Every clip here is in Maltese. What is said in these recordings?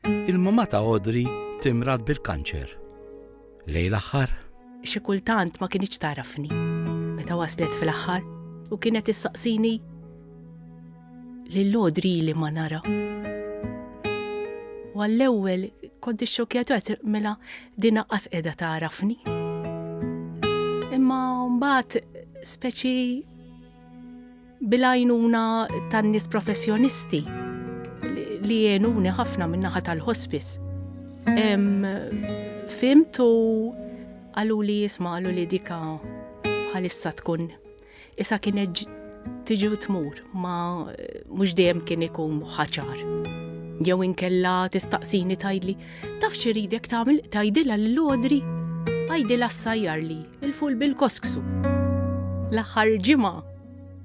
Il-mamà ta' Audrey timrad bil-kanċer. Lejn l-aħħar. Xi kultant ma kinitx tagħrafni. Meta waslet fil-aħħar u kienet issaqsini lil Audrey li ma nara. U għall-ewwel kont ixxokjat qed mela din aqqas qiegħda tagħrafni. Imma mbagħad speċi Bil-għajnuna tan-nies professjonisti li għenuni ħafna min-naħa tal-ħospis, fhimt u qaluli jisma' qalu li dika bħalissa tkun isa kienet tiġi u tmur ma mhux dejjem kien ikun ħaċar. Jew inkella tistaqsini tgħidli, taf xi ridek tagħmel tgħidilha lil Odri għajdilha ssajjar li il-ful bil-kosksu. L-aħħar ġimgħa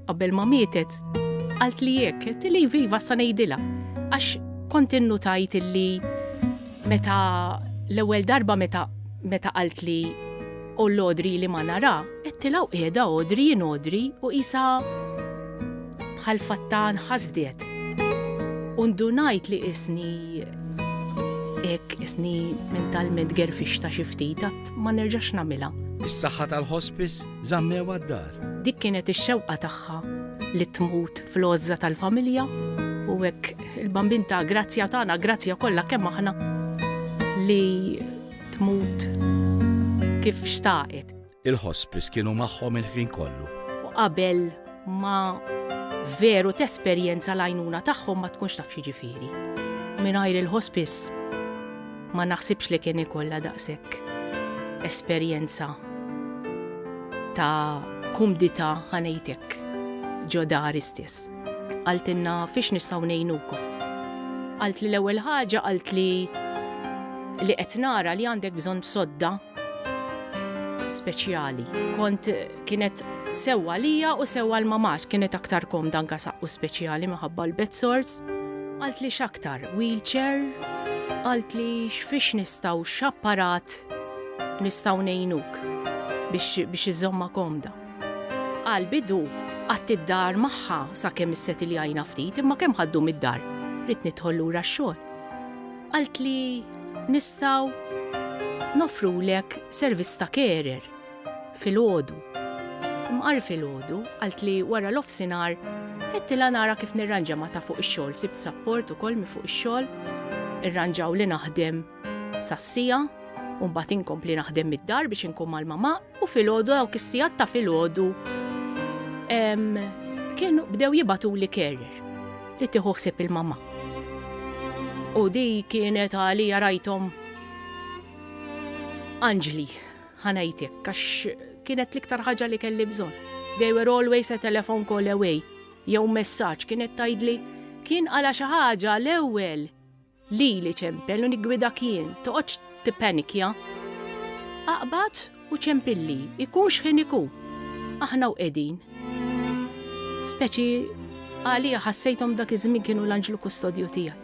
Qabel ma mietet, qaltli hekk, għedtili iva iva sa ngħidilha, għax kont innutajt illi meta l-ewwel darba meta meta qaltli u l-Odri li ma nara, għedtilha u qiegħda Odri jien Odri u qisha bħal fatta nħasdet. U ndunajt li isni hekk isni mentalment gerfixta xi ftit għad ma nerġax nagħmilha. Is-saħħa tal-hospice Żammewha d-dar. Dik kienet ix-xewqa tagħha li tmut fl-għożża tal-familja u hekk il-Bambin ta' grazzja tagħna, grazzja kollha kemm aħna li tmut kif xtaqet. Il-ħospis kienu magħhom il-ħin kollu. U qabel ma veru tesperjenza l-għajnuna tagħhom ma tkunx taf jiġifieri. Mingħajr il-hospice ma naħsibx li kien ikollha daqshekk esperjenza ta' kumdita ħanejtek ġo dar istess. Għaltinna fiex nistaw nejnukom. Għalt li l-ewwel ħaġa għalt li li qed nara li għandek bżonn sodda speċjali. Kont Kienet sewwa għalija u sewwa għal mama għax kienet aktar komda anke saqqu speċjali minħabba l-bed sores. Qaltli x'aktar wheelchair, qaltli x'fiex nistgħu x'apparat nistgħu ngħinuk biex iżomma komda. Għal bidu qatt id-dar magħha sakemm isset li għajna ftit imma kemm ħaddu mid-dar rrid nidħol lura x-xogħol. Qaltli nistgħu nofrulek servizz ta' carer Filgħodu. Mqar filgħodu, qaltli wara l-offsinhar, Għedtilha nara kif nirranġa ma' ta' fuq ix-xogħol, sibt sapport ukoll minn fuq ix-xogħol, irranġawli naħdem sas-siegħa u mbagħad inkompli naħdem mid-dar biex inkun mal-mama u filgħodu dawk is-sigħat ta' filgħodu kienu bdew jibatuli carrier li tieħu ħsieb il-mama. U di kienet għalija rajthom anġli. Ħa ngħidlek, għax kienet l-iktar ħaġa li kelli bżonn. They were always a telephone call away, jew messaġġ, kienet tgħidli, kien għala xi ħaġa l-ewwel lili ċempel u niggwidak jien, toqgħodx tippanikja. Aqbad u ċempilli, ikun x'ħin ikun. Aħna u qegħdin. Speċi Għalija ħassejthom dak iż-żmien kienu l-anġlu kustodju tiegħi.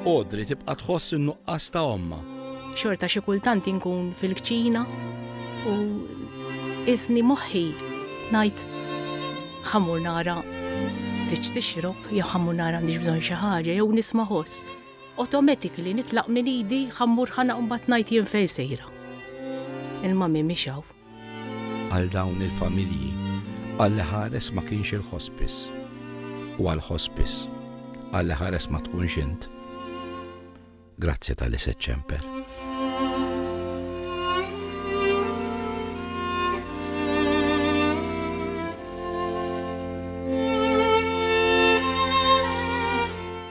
Audrey tibqa' tħoss in-nuqqas ta' ommha. Xorta xi kultant inkun fil-kċina u qisni moħħi ngħid ħa mmur nara tridx tixrob jew ħa mmur nara għandix bżonn xi ħaġa jew nisma' ħoss. Automatically nitlaq minn idi ħa mmur ħa naqbad ngħid jien fejn sejra. Il-mami mhix hawn. Għal dawn il-familji, Alla ħares ma kienx il-ħospis. U għal-ħospis, Alla ħares ma tkunx int. Grazzi tal-li seċċemper.